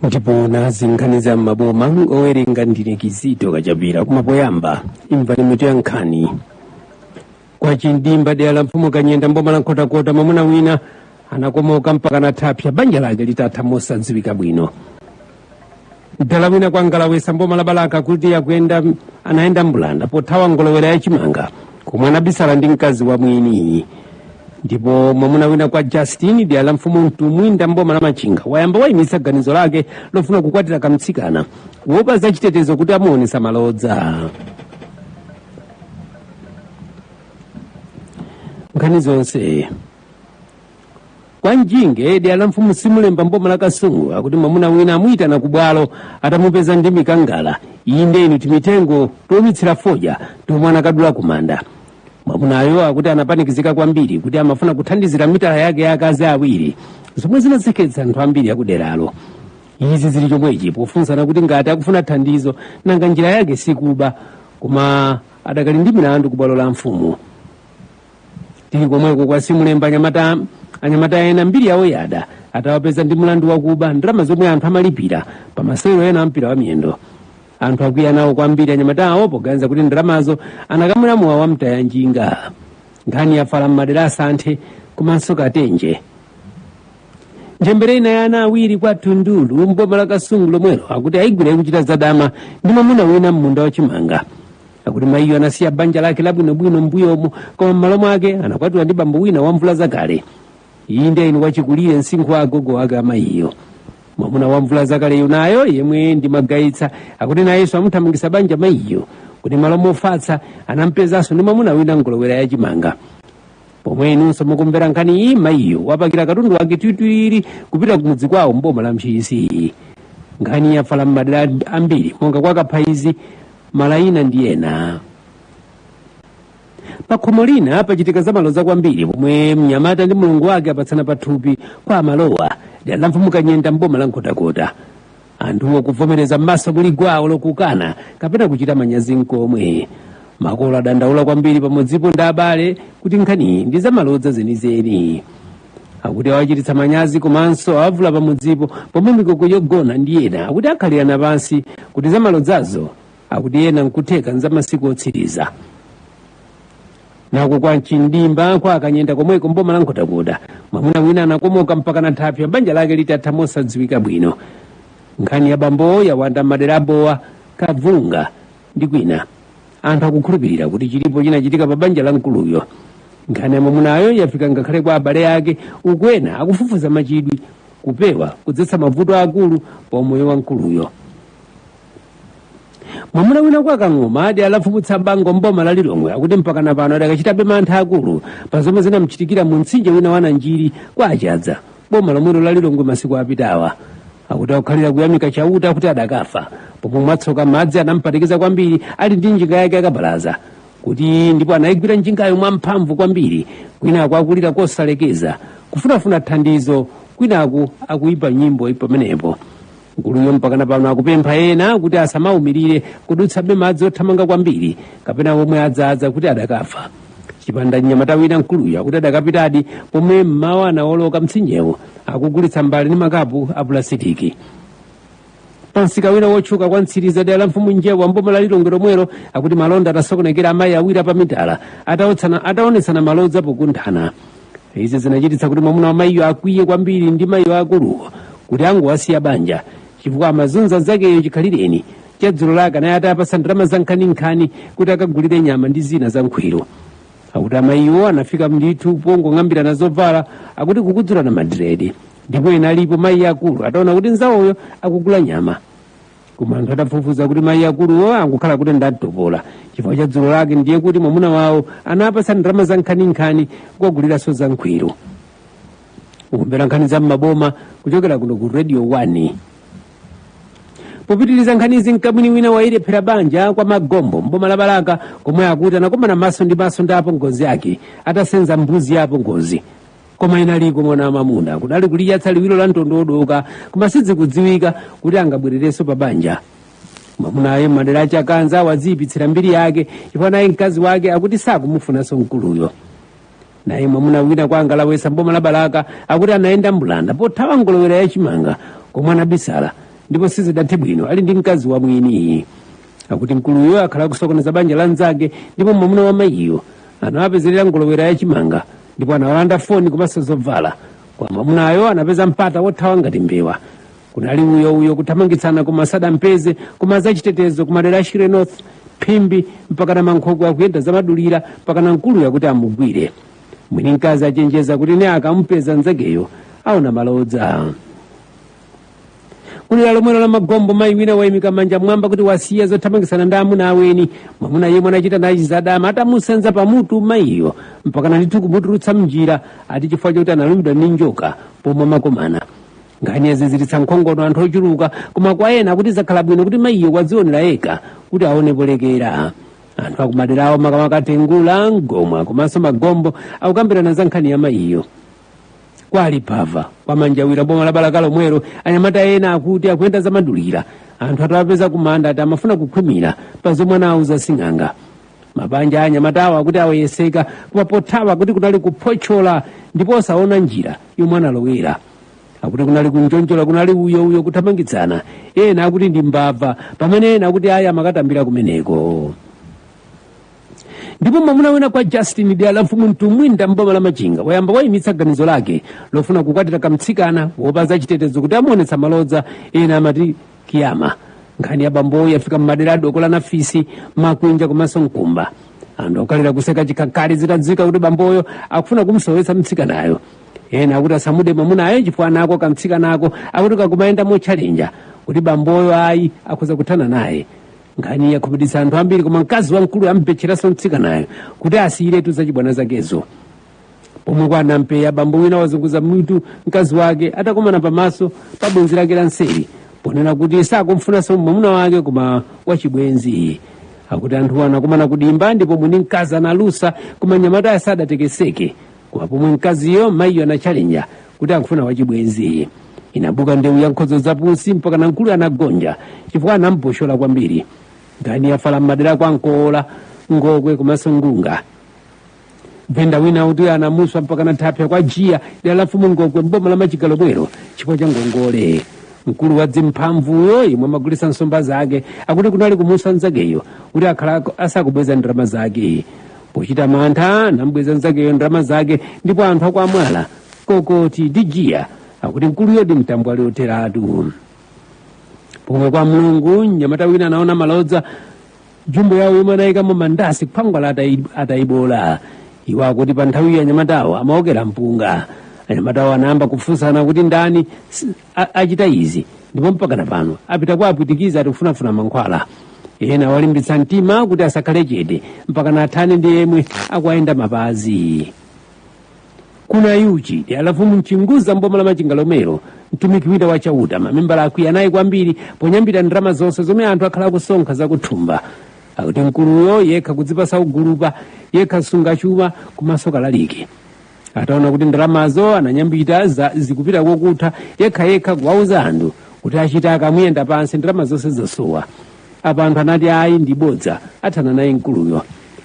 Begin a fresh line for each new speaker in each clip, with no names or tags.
ndipo nazi nkhani za m'maboma owerenga ndine kizito kachapira koma poyamba imvani mitu ya nkhani kwa chindimba dera la mfumu kanyenda mboma la nkhotakota mwamuna wina anakomoka mpaka nathapsa banja lake litatha mosadziwika bwino mdala wina kwa ngalawesa mboma la balaka akuti akuyenda anayenda mbulanda pothawa ngolowera ya chimanga komwe anabisala ndi mkazi wa mwini ndipo mwamuna wina kwa justin dera la mfumu mtumbwinda mboma la machinga wayamba wayimitsa ganizo lake lofuna kukwatira kamtsikana kuopa za chitetezo kuti amuonesa malodza nkhani zonse kwa njinge dera la mfumu simulemba mboma la kasungu akuti mwamuna wina amuyitana ku bwalo atamupeza ndi mikangala inde inu timitengo toumitsira fodya tomwe anakadula kumanda mwamunayo akuti anapanikizika kwambiri kuti amafuna kuthandizira mitala yake ya akazi awiri zomwe zinaseketsa anthu ambiri akuderalo izi zili chomwechi pofunsana kuti ngati akufuna thandizo nanga njira yake sikuba koma adakali ndi milandu ku bwalo la mfumu tili komweko kwa simulemba anyamata anyamata ena mbiri yawo yada atawapeza ndi mlandu wakuba ndalama zomwe anthu amalipira pa masewero ena a mpira wa miyendo anthu akwiya nawo kwambiri anyamata awo poganiza kuti ndalamazo anakamwera mowa wa mtaya njinga nkhani yafala m'madera a santhe komanso katenje ntchembere ina ya ana awiri kwa tundulu mboma la kasungu lomwelo akuti ayigwira ikuchita zadama ndi mwamuna wina m'munda wa chimanga akuti mayiyo anasiya banja lake labwinobwino m'mbuyomo koma m'malo mwake anakwatiwa ndi bambo wina wa mvula zakale inde inu wachikulire msinkhu wa agogo wake amayiyo mwamuna wa mvula zakaleyo nayo yemwe ndi magayitsa akuti nayenso amuthamangisa banja mayiyo akuti m'malo mofatsa anampezanso ndi mwamuna wina ngolowera yachimanga pomwe inunso mukumvera nkhani iyi mayiyo wapakira katundu wake twitwiri kupita kumudzi kwawo mboma la ntchisi nkhani yafala m'madera ambiri monga kwa kaphaizi malayina ndi ena pakhomo lina pachitika zamaloza kwambiri pomwe mnyamata ndi mlongo wake apatsana pathupi kwa malowa dera la mfumu kanyenda mboma la nkhotakota anthuwo akuvomereza m'maso muli gwa olo kukana kapena kuchita manyazi nkomwe makolo adandaula kwambiri pamodzipo ndi abale kuti nkhaniyi ndi zamalodza zenizeni akuti awachititsa manyazi komanso awavula pamudzipo pomwe mikoko yogona ndi ena akuti akhalirana pansi kuti zamalodzazo akuti ena nkutheka nzamasiku otsiriza nako kwa nchindimba kwa akanyenda komweko mboma la nkhotakota mwamuna wina anakomoka mpaka na thapsa pa banja lake litatha mosadziwika bwino nkhani ya bambowo yawanda mmadera a bowa kabvunga ndi kwina anthu akukhulupirira kuti chilipo chinachitika pa banja la mkuluyo nkhani ya mwamunayo yafika ngakhale kwa abale ake uku ena akufufuza machitidwe kupewa kudzetsa mavuto akulu pa umoyo wa mkuluyo mwamuna wina kwa kang'oma adi alafumutsa bango mboma la lilongwe akuti mpakana pano akadachitabe mantha akulu pa zomwe zinamchitikira mu mtsinje wina wa nanjiri kwa achadza boma lomwelo la lilongwe masiku apitawa akuti akukhalira kuyamika chauta kuti adakafa pomwe mwatsoka madzi anampanikiza kwambiri ali ndi njinga yake yakabaza kuti ndipo anayigwira njingayo mwamphamvu kwambiri kwinaku akulira kosalekeza kufunafuna thandizo kwinaku akuyimba nyimbo pamenepo mkuluyo mpakana pano akupempha ena kuti asamaumirire kudutsabe madzi othamanga kwambiri kapena omwe adzaza kuti adakafa chipanda mnyamata wina mkuluyo akuti adakapitadi pomwe mmawa anawoloka mtsinjewu akugulitsa mbale ndi makapu a pulasitiki pansika wina wotchuka kwa mtsiliza dera la mfumu njewa mboma la lilongwe lomwelo akuti malonda atasokonekera amayi awiri apamitala ataotsana- ataonetsana malodza pokunthana izi zinachititsa kuti mwamuna wa mayiyo akwiye kwambiri ndi mayiwo akuluwo kuti angowasiya banja chifukwa amazunza nzakeyo chikhalireni chadzulo lake anali atawapatsa ndalama zankhaninkhani kuti akagulire nyama ndi zina za nkhwiru akuti amayiwo anafika mlithu pongong'ambirana zovala akuti kukudzulana madiresi ndipo ena alipo mayi akulu ataona kuti nzawoyo akugula nyama koma anthu atafufuza kuti mayi akuluwo ankakhala kuti ndamtopola chifukwa cha dzulo lake ndiye kuti mwamuna wawo anawapatsa ndalama za nkhaninkhani kukaguliranso za nkhwiru mukumvera nkhani za mmaboma kuchokera kuno ku radio 1 popitiriza nkhanizi mkamwini wina wayilephera banja kwa magombo mboma la balaka komwe akuti anakomana maso ndi maso ndi apongozi ake atasenza mbuzi ya apongozi koma inaliko mwana wamamuna kunali kuliyatsa liwiro la mtondo wodoka koma sidzikudziwika kuti angabwererenso pa banja mwamunayo m'madera a chakanza waziyipitsira mbiri yake chifukwa naye mkazi wake akuti sakumufunanso mkuluyo naye mwamuna wina kwa angalawesa mboma la balaka akuti anayenda mbulanda pothawa mgolowera ya chimanga komwe anabisala ndipo sizidathe bwino ali ndi mkazi wa mwini akuti mkuluyo akhala akusokoneza banja la mnzake ndipo mwamuna wa mayiyo anawapezerera mgolowera ya chimanga ndipo anamulanda foni komanso zovala koma mwamunayo anapeza mpata wothawa ngati mbewa kunali uyo uyo kuthamangitsana koma sadampeze koma azachitetezo kumadera a shire north phimbi mpaka na mankhoko akuyenda zamadulira mpaka na mkuluyo kuti amugwire mwini mkazi achenjeza kuti nde akamupeza nzakeyo aona malodza kudera lomwelo la magombo mayi wina wayimika manja mwamba kuti wasiya zothamangitsana ndi amuna aweni mwamuna yemwe anachita naye zadama atamusenza pamutu mayiyo mpakana ndithu kumutulutsa mnjira ati chifukwa choti analumidwa ndi njoka pomwe amakomana nkhani yaziziritsa nkhongono anthu ochuluka koma kwa ena kuti zakhala bwino kuti mayiyo wadzionera yekha kuti aone polekera anthu akumaderawo makamaka tengula mgomwa komanso magombo akukambirana za nkhani ya mayiyo kwa liphava kwa manjawira boma la balaka lomwelo anyamata ena akuti akuyenda zamadulira anthu atawapeza kumanda ati amafuna kukhwimira pa zomwe anawuza sing'anga mabanja a anyamatawo akuti agwedezeka koma pothawa kuti kunali kuphotchola ndipo osaona njira yomwe analowera akuti kunali kunjonjola kunali uyo uyo kuthamangitsana ena akuti ndi mbava pamene ena akuti ayi amakatambira kumeneko ndipo mwamuna wina kwa justin dera la mfumu mtumwinda mboma la machinga wayamba wayimitsa ganizo lake lofuna kukwatira kamtsikana kuopa azachitetezo kuti amuonetsa malodza ena amati kiyama nkhani ya bamboyo yafika mmadera a dokola nafisi makwinja komanso mkumba anthu okhalira kuseka chikhakhali zitadziwika kuti bamboyo akufuna kumsowetsa mtsikanayo ena akuti asamude mwamunayo chifukwa nako kamtsikanako akuti kakumayenda motchalenja kuti bamboyo ayi akhoza kuthana naye nkhani yakhumudwitsa anthu ambiri koma mkazi wamkulu amupempheranso mtsikanayo kuti asiyiretu zachibwana zakezo pomwe kwa nampeya bambo wina wazunguza mutu mkazi wake atakomana pamaso pa bwenzi lake la nseri ponena kuti sakumfunanso mwamuna wake koma wachibwenziyo akuti anthuwo anakumana kudimba ndipo mwini mkazi analusa koma mnyamatayo sadatekeseke koma pomwe mkaziyo mayiyo anachalinya kuti akufuna wachibwenzi inabuka ndewu ya nkhodzo zapusi mpakana mkulu anagonja chifukwa anamupushola kwambiri nkhani yafala m'madera a kwa nkoola ngokwe komanso ngunga venda wina akuti anamuswa mpakana thapsa kwa jiya dera la mfumu ngokwe mboma la machinga lomwelo chifukwa cha ngongole mkulu wa dzimphamvuyo yemwe amagulitsa nsomba zake akuti kunali kumuswa nzakeyo kuti akhala asakubweza ndalama zake pochita mantha anambweza nzakeyo ndalama zake ndipo anthu a kwa mwala kokoti ndi jiya akuti mkuluyo ndi mtambwali otheratu pomwe kwa mlungu mnyamata wina anaona malodza jumbo yawo yomwe anayikamo mandasi khwangwala atayi- atayiboola iwo akuti pa nthawiyo anyamatawo amaokera mpunga anyamatawo anayamba kufunsana kuti ndani si- a- achita izi ndipo mpakana pano apita kwa apwitikizi ati kufunafuna mankhwala ena awalimbitsa mtima kuti asakhale chete mpakana athane ndi yemwe akuwayenda mapazi ku nayuchi dera la mfumu mchinguza mboma la machinga lomwelo mtumiki wina wa chauta mamembala akwiya naye kwambiri ponyambita ndalama zonse zomwe anthu akhala akusonkha zakuthumba akuti mkuluyo yekha kudzipatsa ugulupa yekha msungichuma komanso kalaliki ataona kuti ndalamazo ananyambita za zikupita kokutha yekhayekha kuwauza anthu kuti achita akamuyenda pansi ndalama zonse zosowa apa anthu anati ayi ndi bodza athana naye mkuluyo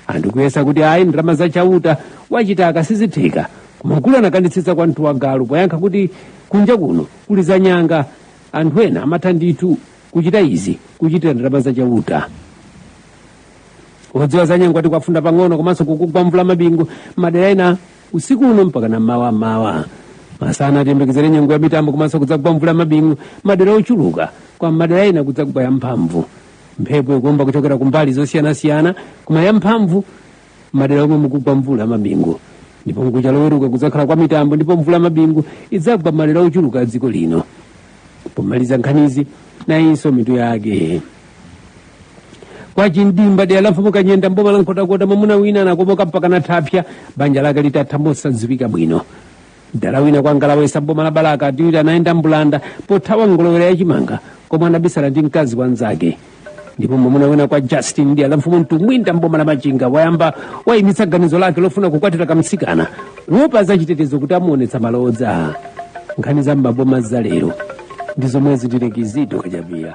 anthu kuyesa kuti ayi ndalama za chauta kuchita izi sizitheka koma mkulu anakanitsitsa kwa mtuwagalu poyankha kuti kunja kuno kuli za nyanga anthu ena amatha ndithu kuchita izi zichitira ndalama za chauta kudziwa za nyengo ati kwafunda pang'ono komanso kukugwa mvula mabingu madera ena usiku uno mpaka na mawa mawa masana ati tiyembekezere nyengo ya mitambo komanso kudzagwa mvula mabingu madera ochuluka kwa madera ena kudzagwa yamphamvu mphepo ikuomba kuchokera kumbali zosiyanasiyana koma yamphamvu madera omwe kukugwa mvula mabingu ndipo mkucha loweruka kudzakhala kwa mitambo ndipo mvula mabingu idzagwa madera ochuluka a dziko lino pomaliza nkhanizi nayinso mitu yake kwa chimdimba dera la mfumu kanyenda mboma la nkhotakota mwamuna wina anakomoka mpaka nathapsya banja lake litatha mosadziwika bwino mdala wina kwa ngalawesa mboma la balaka ati wiri anayenda mbulanda pothawa ngolo ya chimanga komwe anabisala ndi mkazi wa mnzake ndipo mwamuna wina kwa justin dera la mfumu mtumwinda mboma la machinga wayamba wayimitsa ganizo lake lofuna kukwatira kamtsikana kuopa achitetezo kuti amuonetsa malodza nkhani za m'maboma za lero ndi zomwe zitirekizidwa kachapira